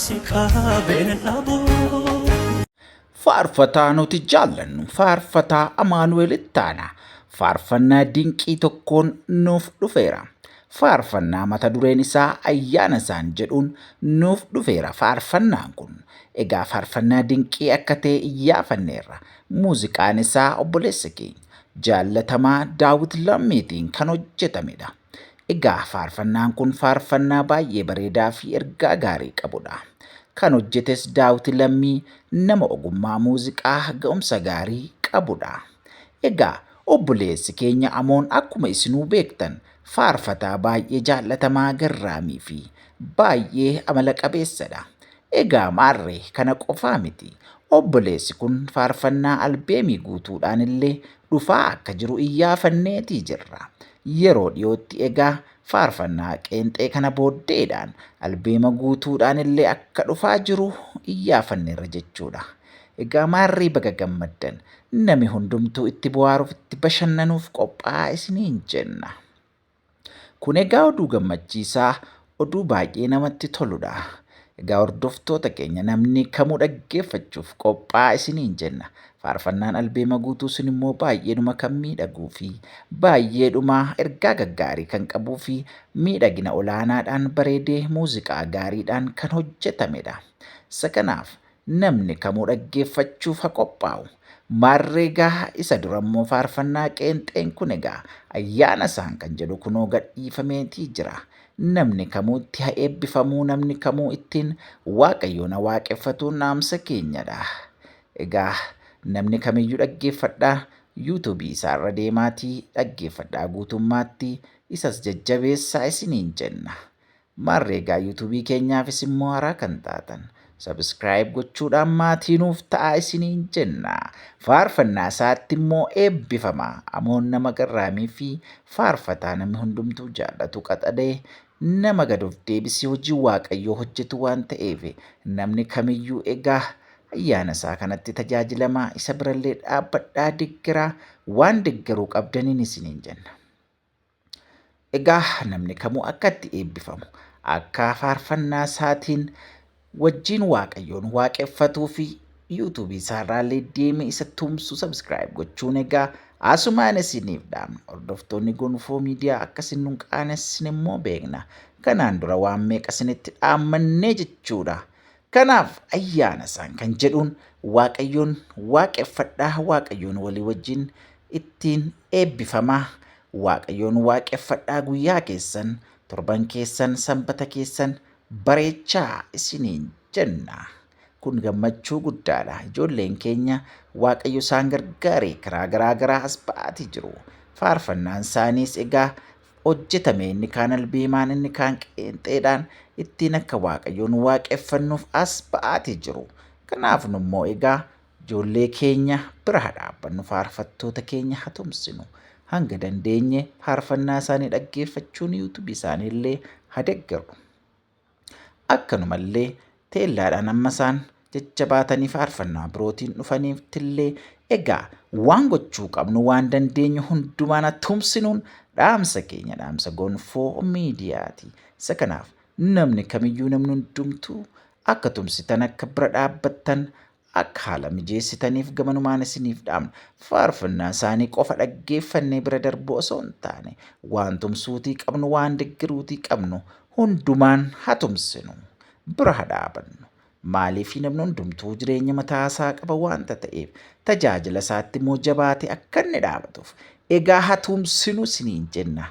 Si qaabeen hin dhabu. Faarfataa nuti jaallannu faarfataa Amaanu'eel Ittaanaa faarfannaa dinqii tokkoon nuuf dhufeera. Faarfannaa mata dureen isaa ayyaana isaan jedhuun nuuf dhufeera faarfannaan kun. Egaa faarfannaa dinqii akka ta'e iyyaafanneerra. Muuziqaan isaa obboleessa keenya jaallatamaa Daawit Lammiitiin kan hojjetamedha. Egaa faarfannaan kun faarfannaa baay'ee bareedaa fi ergaa gaarii qabudha. Kan hojjetes Daawiti Lammii nama ogummaa muuziqaa ga'umsa gaarii qabudha. Egaa obboleessi keenya Amoon akkuma isinuu beektan faarfataa baay'ee jaallatamaa garraamii fi baay'ee amala qabeessadha. Egaa maarre kana qofaa miti obboleessi kun faarfannaa albeemii guutuudhaan illee dhufaa akka jiru iyyaafanneetii jirra. Yeroo dhiyootti egaa faarfannaa qeenxee kana booddeedhaan albeema guutuudhaan illee akka dhufaa jiru iyyaafanneerra jechuudha. Egaa maarree baga gammaddan! Nami hundumtuu itti bohaaruuf itti bashannanuuf qophaa'aa isiniin jenna. Kun egaa oduu gammachiisaa Oduu baay'ee namatti toludha. Egaa hordoftoota keenya namni kamuu dhaggeeffachuuf qophaa'aa isiniin jenna. Faarfannaan albeema guutuu sun immoo baay'eedhuma kan miidhaguu fi baay'eedhuma ergaa gaggaarii kan qabuu fi miidhagina olaanaadhaan bareedee muuziqaa gaariidhaan kan hojjetamedha. Isa kanaaf Namni kamuu dhaggeeffachuuf ha qophaa'u. Maarree egaa isa dura immoo faarfannaa qeenxeen kun egaa ayyaana isaan kan jedhu kunoo gadhiifameetii jira. Namni kamuu itti ha eebbifamuu namni kamuu ittiin Waaqayyoon ha waaqeffatuun dhaamsa keenyadha. Egaa namni kamiyyuu dhaggeeffadhaa YouTube isaa irra deemaatii dhaggeeffadhaa guutummaatti isas jajjabeessaa isiniin jenna. Maarree egaa YouTube keenyaafis immoo haaraa kan taatan Subscribe gochuudhaan maatii nuuf ta'aa isiniin jenna. Faarfannaa isaatti immoo eebbifama. Amoon nama garraamii fi faarfataa namni hundumtuu jaallatu qaxalee nama gad of deebisee hojii Waaqayyoo hojjetu waan ta'eef namni kamiyyuu egaa ayyaana isaa kanatti tajaajilamaa isa birallee dhaabbadhaa deggeraa waan deggeruu qabdaniin isiniin jenna. Egaa namni kamuu akka itti eebbifamu akka faarfannaa isaatiin wajjiin waaqayyoon waaqeffatuu fi yuutuubii isaarraallee deemee isa tumsu sabskiraayib gochuun egaa asumaan isiniif dhaamna hordoftoonni gonfoo miidiyaa akka isin nun qaanessin immoo beekna kanaan dura waan meeqa isinitti dhaammannee jechuudha Kanaaf ayyaana isaan kan jedhuun waaqayyoon waaqeffadhaa waaqayyoon walii wajjin ittiin eebbifamaa waaqayyoon waaqeffadhaa guyyaa keessan torban keessan sanbata keessan bareechaa isiniin jenna. Kun gammachuu guddaadha. Ijoolleen keenya waaqayyo isaan gargaaree karaa garaa garaa as ba'aatii jiru. Faarfannaan isaaniis egaa hojjetame, inni kaan albeemaan, inni kaan qeenxeedhaan ittiin akka Waaqayyoon waaqeffannuuf as ba'aatii jiru. Kanaaf nu immoo egaa ijoollee keenya bira haa dhaabbannu, faarfattoota keenya haa tumsinu, hanga dandeenye faarfannaa isaanii dhaggeeffachuun YouTube isaanii illee haa deggerru. Akkanumallee teellaadhaan amma isaan jajjabaatanii faarfannaa birootiin dhufaniiftillee egaa waan gochuu qabnu waan dandeenyu hundumaana tumsinuun dhaamsa keenya dhaamsa gonfoo miidiyaati. Isa kanaaf namni kamiyyuu namni hundumtuu akka tumsitan akka bira dhaabbattan Akka haala mijeessitaniif gamanumaan isiniif dhaamna. Faarfannaa isaanii qofa dhaggeeffannee bira darbuu osoo hin taane, waan tumsuutii qabnu, waan deggeruutii qabnu hundumaan haa tumsinu. Bira haa dhaabannu. Maaliif namni hundumtuu jireenya mataa isaa qaba waanta ta'eef, tajaajila isaatti immoo jabaatee akka inni dhaabatuuf. Egaa haa tumsinu isiniin jenna.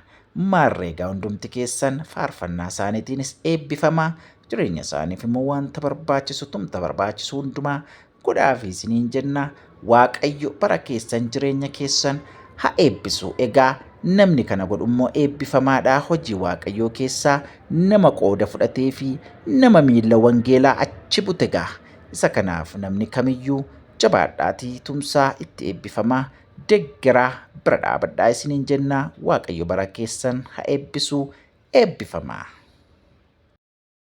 Maarree egaa hundumti keessan faarfannaa isaaniitiinis eebbifamaa, Jireenya isaaniif immoo wanta barbaachisu tumta barbaachisu hundumaa godhaafi isiniin jenna. Waaqayyo bara keessan jireenya keessan ha eebbisu. Egaa namni kana godhu immoo eebbifamaadha. Hojii Waaqayyoo keessaa nama qooda fudhatee fi nama miila wangeelaa achi bute egaa. Isa kanaaf namni kamiyyuu jabaadhaatii tumsaa itti eebbifamaa deggeraa bira dhaabadhaa isiniin jenna. Waaqayyo bara keessan ha eebbisu eebbifamaa.